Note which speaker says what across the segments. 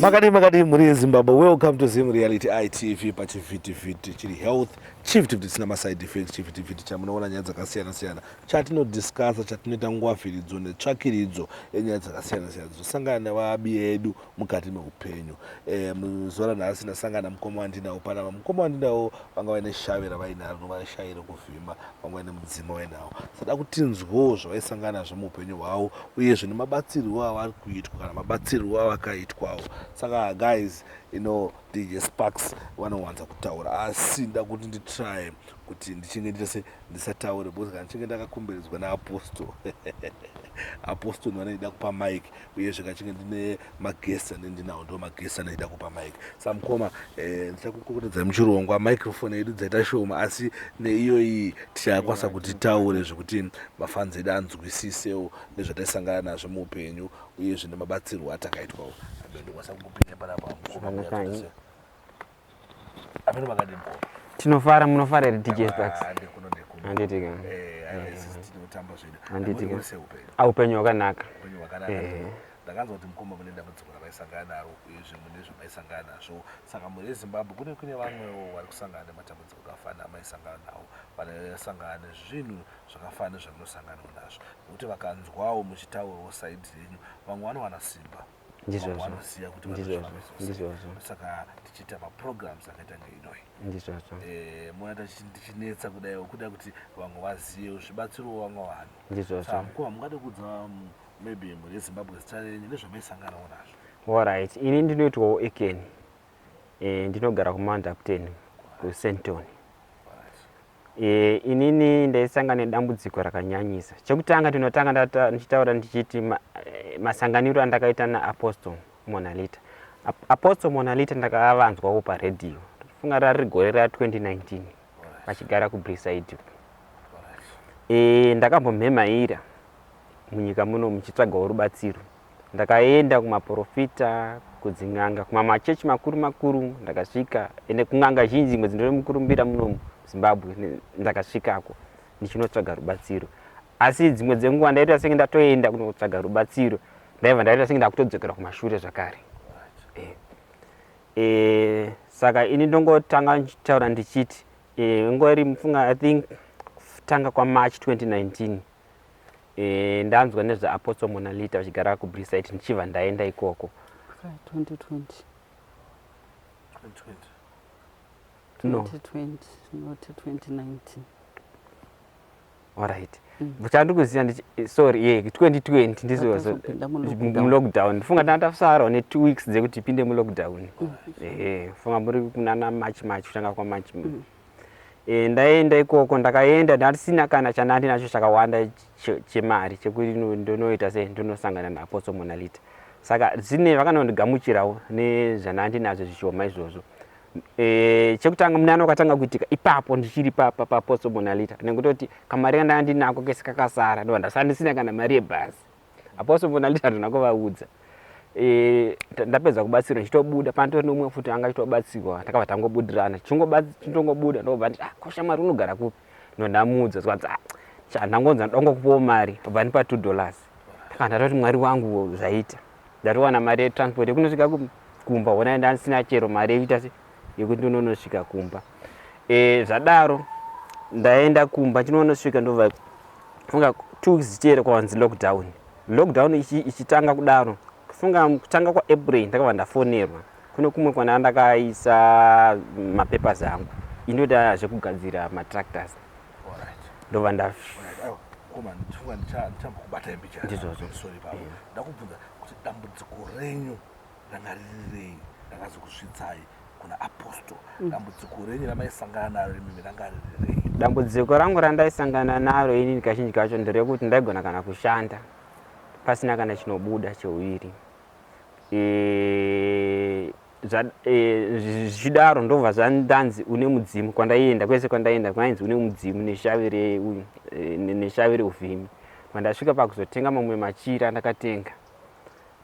Speaker 1: makadii makadii
Speaker 2: mhuri yezimbabwe welcome to zim reality itv pachivhitivhiti chiri health Chivhitivhiti chisina maside effects chivhitivhiti chamunoona nyaya dzakasiyana siyana chatinodiscasa chatinoita ngwavhiridzo netsvakiridzo yenyaya dzakasiyana siyana dzinosangana nevabi edu mukati meupenyu e, muzuva ranhasi ndasangana mukoma wandinawo panapa mukoma wandinawo vanga vaine shave ravainaro novashayi rekuvhima vanga vaine mudzima wainawo sada kutinzwawo zvavaisangana nazvo muupenyu hwavo uyezve nemabatsirwo avari kuitwa kana mabatsirwo avakaitwawo saka guys you know DJ Sparks vanowanza kutaura asi nda kuti nditrye kuti ndichinge nditese ndisataure because kana ndichinge ndakakomberedzwa naapostle apostle ndiwana ndida kupa mike uyezve kachinge ndine maguest ane ndinawo ndo maguest ane ndida kupa mike sa mukoma eh, ndichakukokotedzai muchirongwa microphone yedu dzaita shoma asi neiyoyi tichakwanisa kuti taure zvekuti mafanzi edu anzwisisewo nezvataisangana nazvo muupenyu uyezve nemabatsirwo atakaitwawo amene ndikwanisa kukupinda panapa mukoma
Speaker 3: amene makadii mukoma tinofara munofara here dj pax handiti ka handiti ka aupenyu hwakanaka
Speaker 2: ndakanzwa kuti mukoma mune dambudziko ravaisangana naro uyezve mune zvamaisangana nazvo saka mhuri yezimbabwe kune kune vamwewo vari kusangana nematambudziko akafanira amaisangana nawo vanaisangana nezvinhu zvakafanana nezvamunosanganawo nazvo nekuti vakanzwawo muchitaurawo side yenyu vamwe vanowana simba vanoziva kuti saka tichiita maprograms akaita ngeinoyi ndizvozvo eh, mona tichinetsa kudai kuda kuti vamwe vazive zvibatsirowo vamwe vanhu ndizvozvo mukoma mungade kudza mm, maybe mhuri yezimbabwe zita renyu nezvamaisanganawo nazvo allright ini ndinoitwawo
Speaker 3: ekeni eh, ndinogara kumandapten kusenton E, inini ndaisanga nedambudziko rakanyanyisa. Chekutanga tinotanga ndata, ndichitaura ndichiti ma, eh, masanganiro andakaita naApostle Monalita. Apostle Monalita ndakavanzwawo paredhiyo. Funga rari gore ra 2019 vachigara kuBriside. E, ndakambomhemaira munyika muno muchitsvagawo rubatsiro. Ndakaenda kumaporofita, kudzin'anga, kumamachechi makuru makuru ndakasvika ende kun'anga zhinji dzimwe dzinotori mukurumbira munomu Zimbabwe ndakasvikako ndichinotsvaga rubatsiro. Asi dzimwe dzenguva ndaita senge ndatoenda kunotsvaga rubatsiro ndaiva ndaita senge ndakutodzokera kumashure zvakare. Eh. Eh, saka ini ndongotanga ndichitaura ndichiti eh, ngori mufunga i think kutanga kwamarch 2019 Eh, ndanzwa nezveapostle monalita vachigara kubrisite ndichibva ndaenda ikoko
Speaker 4: no
Speaker 3: orit mm. chandikuziva eh, sorry ye 2020 ndizomlockdown ndifunga tanga tafusarwa netwo weeks dzekuti tipinde mulockdown mm. ehe funga muri kunana march march kutanga kwamarch mm. e, ndaenda ikoko ndakaenda ndasina kana chandandi nacho chakawanda chemari chekuti ndonoita se ndonosangana naapostle monalita saka zine vakanondigamuchirawo nezvandandi nazvo zvishoma izvozvo e, chekutanga munana wakatanga kuitika ipapo ndichiri papa paapostle monalita nekutoti kamari kandandinako kese kakasara ndovandasandisina kana mari yebhazi apostle mvona nditi handina kuvaudza e, ndapedza kubatsirwa ndichitobuda panotori neumwe futi anga chitobatsirwa takabva tangobudirana tichitongobuda ndobva nditi ah, kosha mari unogara kupi ndondamuudza zvanzi ah, chandangonza ndongo kupawo mari obva ndipa two dollars taka ndatoti mwari wangu zvaita ndatowana mari yetransport yekunosvika kumba hona ndandisina chero mari yekuita se yekuti ndononosvika kumba e, zvadaro ndaenda kumba ndinonosvika ndova funga two weeks zvichiera kwavanzi lockdown lockdown ichitanga ichi kudaro kufunga kutanga kwaapril ndakava ndafonerwa kune kumwe kwana ndakaisa mapapers angu inoita zvekugadzira matractors ndova
Speaker 2: ndazvondizvozvo Rangaririrei rakazokusvitsai kuna apostle. Mm. Dambudziko renyu ramaisangana naro imimi rangaririrei. Dambudziko rangu
Speaker 3: randaisangana naro inini kazhinji kacho nderekuti ndaigona kana kushanda pasina kana chinobuda cheuviri e, e, zvichidaro ndobva zvandanzi une mudzimu kwandaienda kwese kwandaienda kwainzi une mudzimu neshavi reushavi e, reuvhimi kwandasvika pakuzotenga mamwe machira ndakatenga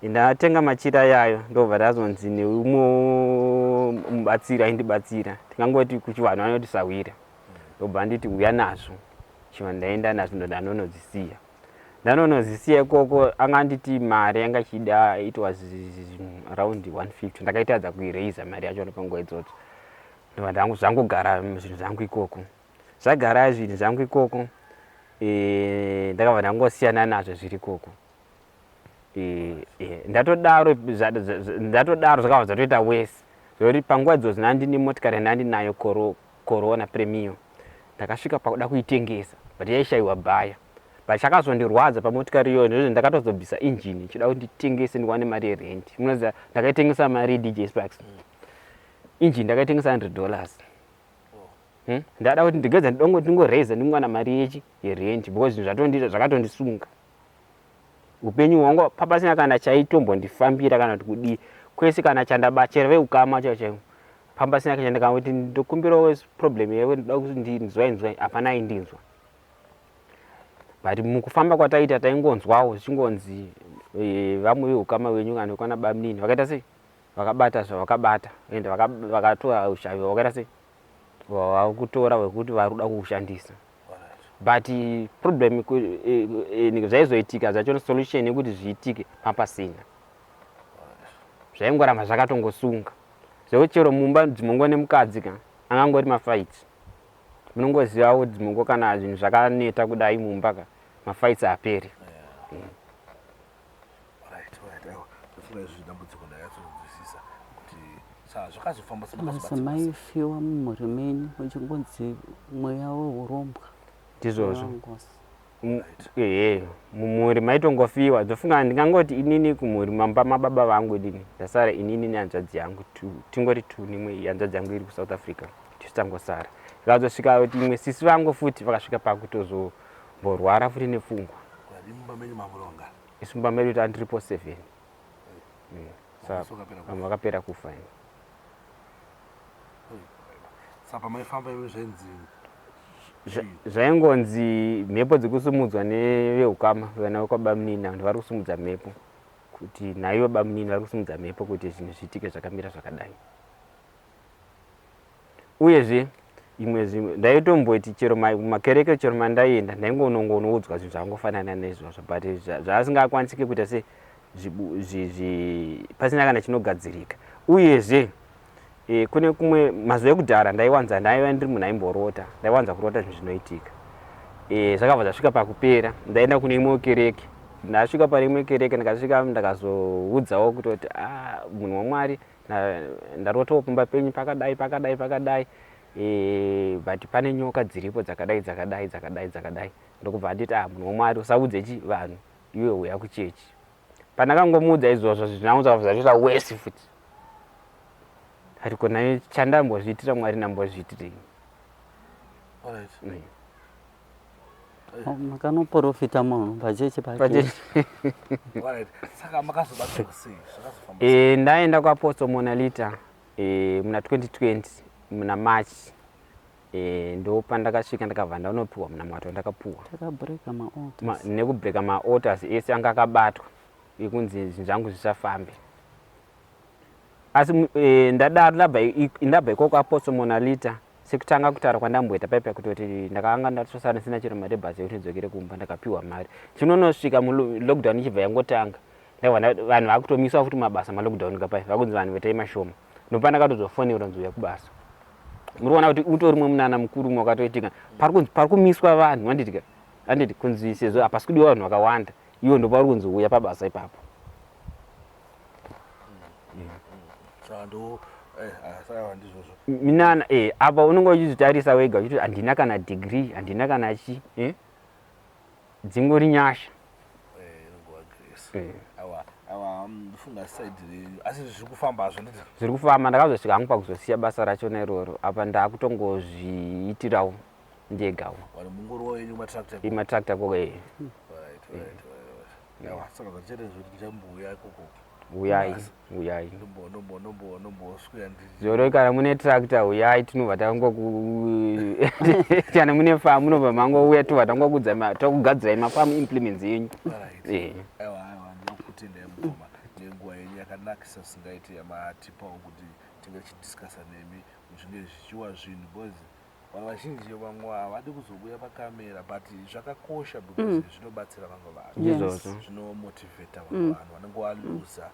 Speaker 3: ndatenga machira ayayo ndobva ndazonzi neumwe mubatsiri aindibatsira tingangoti kuchivanhu anoti sahwira ndobva anditi uya nazvo chivanhu ndaenda nazvo ndanonozisiya ndanonozisiya ikoko anga anditi mari yanga ichida it was around 150 ndakaitadza kuiraiza mari yacho nepanguva idzodzo ndobva ndangu zvangogara zvinhu zvangu ikoko zvagara zvinhu zvangu ikoko eh, ndakabva ndangosiyana nazvo zviri ikoko ndatodaro ndatodaro zvakabva zvatoita wese zvekuti panguva idzo zvinandi nemotikari yandandi nayo corona premium ndakasvika pakuda kuitengesa but yaishayiwa bhaya but chakazondirwadza pamotikari iyoyo ndozve ndakatozobvisa injini ichida kuti nditengese ndiwane mari yerent munoziva ndakaitengesa mari dj sparks injini ndakaitengesa 100 dollars hmm? ndada kuti ndigeza ndidongo ndingoraise ndingowana mari yechi yerent because zvinhu zvatondiita zvakatondisunga Upenyu hwangu apa pasina kana chaitombondifambira kana kuti kudii kwese kana chandaba chero veukama chaivo chaivo pamba pasina kana ndikangoti ndokumbirawo problem yaivo ndoda kuti ndinzwai nzwai hapana aindinzwa but mukufamba kwataita taingonzwawo zvichingonzi e, vamwe veukama venyu kana kwana bamunini vakaita sei vakabata zvavakabata and vakatora ushavi vakaita sei vakutora vekuti vari kuda kukushandisa but problem eh, eh, eh, zvaizoitika zvacho solution yekuti zviitike papasina zvaingoramba zvakatongosunga zvekuti chero mumba dzimongo nemukadzi ka angangori mafaiti munongozivawo dzimongo kana zvinhu zvakaneta kudai mumba ka mafaiti aperi mm.
Speaker 4: madzimai fiwa mumhuri menyu uchingonzi mweya weurombwa ndizvozvo
Speaker 3: mumhuri maitongofiwa dzofunga ndingangoti inini kumhuri mamba mababa vangu inini ndasara inini nehanzvadzi yangu tingori two nimwe hanzvadzi yangu iri kusouth africa tisu tangosara zvazosvika kuti imwe sisi vangu futi vakasvika pakutozo Mborwara futi nepfungwa. Kudadii mumba menyu mamuronga? Isu mumba medu tanga tiripo seven. Mm. Sa vamwe vakapera kufa ini.
Speaker 2: Sa pamaifamba imi zvainzi
Speaker 3: zvaingonzi mhepo dzekusumudzwa neveukama vana vekwabamunini avo vari kusumudza mhepo kuti naivo bamunini vari kusumudza mhepo kuti zvinhu zviitike zvakamira zvakadai uyezve imwe zvimwe ndaitomboti chero makereke chero mandaienda ndaingonongonoudzwa zvinhu zvakangofanana neizvozvo but zvaasingakwanisike kuita se pasina kana chinogadzirika uyezve e, kune kumwe mazuva ekudhara ndaiwanza ndaiva ndiri munhu aimborota ndaiwanza kurota zvinhu zvinoitika e, zvakabva zvasvika pakupera ndaenda kune imwewo kereke ndasvika pane imwe kereke ndakasvika ndakazoudzawo kutoti ah, munhu wamwari ah, ndarotawo pumba penyu pakadai pakadai pakadai e, but pane nyoka dziripo dzakadai dzakadai dzakadai dzakadai ndokubva anditi ah munhu womwari usaudze chi vanhu iwe uya kuchechi pandakangomuudza izvozvo zvinaunza zvatoita wesi futi ariko naye chandambozviitira mwari ndambozviitirei right. mm.
Speaker 4: makanoprofita munhu pachechi pake
Speaker 2: e, ndaenda kwaposto
Speaker 3: monalita e, muna 2020 muna march e, ndopa ndakasvika ndakabva ndanopiwa muna mwato ndakapuwa
Speaker 4: nekubreka maoters
Speaker 3: ese anga akabatwa ekunzi zvinhu zvangu zvichafambe asi e, ndadaro ndabva ndabva ikoko apostle monalita sekutanga kutaura kwandamboita paipa kutoti ndakanga ndatosara ndisina chero mari yebhasi yekuti ndidzokere kumba ndakapiwa mari chinonosvika mulockdown ichibva yangotanga vanhu vakutomiswa futi mabasa malockdown kapai vakunzi vanhu vetai mashoma ndopana katozofoneura nziuya kubasa muriona kuti utori mwe munana mukuru umwe wakatoitika pari kumiswa vanhu vanditika anditi kunzi sezvo hapasi kudiwa vanhu vakawanda iwo ndopauri kunzi uya pabasa ipapo Eh, ah, minana eh, apa unenge uchizvitarisa wega uchiti handina kana degree handina kana chi eh? dzingori nyasha
Speaker 2: zviri kufamba ndakazosvika
Speaker 3: hangu pakuzosiya basa rachona iroro apa ndaakutongozviitirawo ndegawo
Speaker 2: imatractor koko ee yawa saka zvachete zviri
Speaker 3: ndichambouya
Speaker 2: ikoko
Speaker 3: huyai huyai
Speaker 2: zoro kana mune
Speaker 3: tractor huyai tinobva tangokana mune famu munobva mangouya tobva tangokudza tokugadzirai mafamu implements yenyu eh.
Speaker 2: nenguva yenyu yakanakisa singaiti yamatipawo kuti tinge tichidiscasa nemi zvinge zvichiwa zvinhu bcoz vanhu vazhinji vamwe havadi kuzobuya pacamera but zvakakosha because mm. zvinobatsira vamwe vanhu zvinomotivheta vamwe mm. vanhu vanenge waluza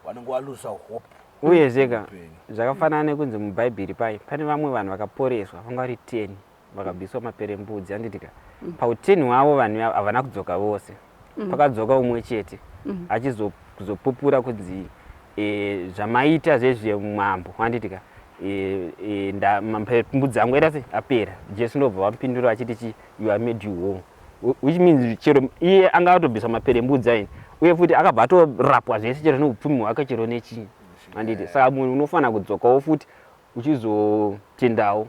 Speaker 2: vanenge waluza hope uye zvega
Speaker 3: zvakafanana nekunzi mubhaibheri paye pane vamwe vanhu vakaporeswa vanga vari ten vakabviswa maperembudzi anditika mm. pauteni hwavo vanhu havana kudzoka vose mm. pakadzoka umwe chete mm. achizopupura kunzi e, zvamaita zvezve mambo handiti ka e, e, mbudzi yangu ita se apera jesu ndobva vamupindura achiti chi you are made you home which means chero iye anga atobvisa mapere embudzi aini uye futi akabva atorapwa zvese chero neupfumi hwake chero nechii handiti saka munhu unofanira kudzokawo futi uchizotendawo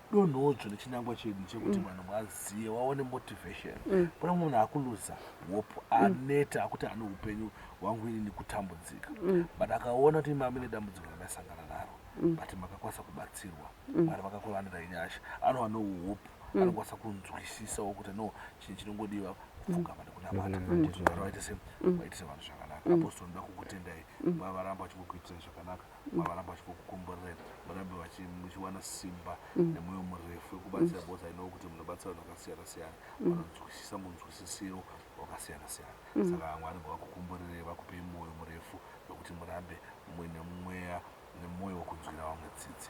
Speaker 2: donhodzvo nechinangwa chedu chekuti mm. vanhu vazive vaone motivation mm. kuna munhu akuluza hope mm. aneta akuti ane upenyu hwangu ini nekutambudzika but akaona kuti imami nedambudziko randasangana naro but makakwanisa kubatsirwa mari vakakuvanira inyasha anova nouhope anokwanisa kunzwisisawo kuti no chinhu chinongodiwa kupfugama nekunamata kuti vaitise vanhu zvakanaka apostori ndoda kukutendai vavaramba vachikukuitirai zvakanaka vavaramba vachikukomborera varambe muchiwana simba mm. nemwoyo murefu wekubatsira bcause mm. i know kuti munobatsira vanhu vakasiyana siyana mm. vanonzwisisa munzwisisiro wakasiyana siyana saka mwari ngavakukomborerei vakupei mwoyo murefu nokuti murambe muine mweya nemwoyo wekunzwira vamwe tsitsi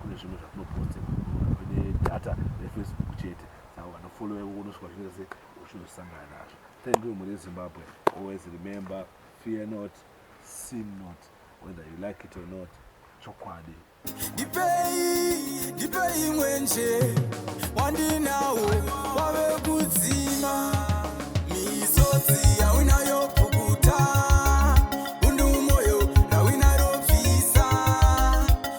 Speaker 2: kune zvimwe zvatinoposte kune data refacebook chete saka vanofollowa ivo unosvika zvinoita se uchinozosangana nazvo thank you mhuri yezimbabwe always remember fear not sin not whether you like it or not chokwadi ndipei
Speaker 1: ndipei mwenje wandinawo wave kudzima misodzi yaunayo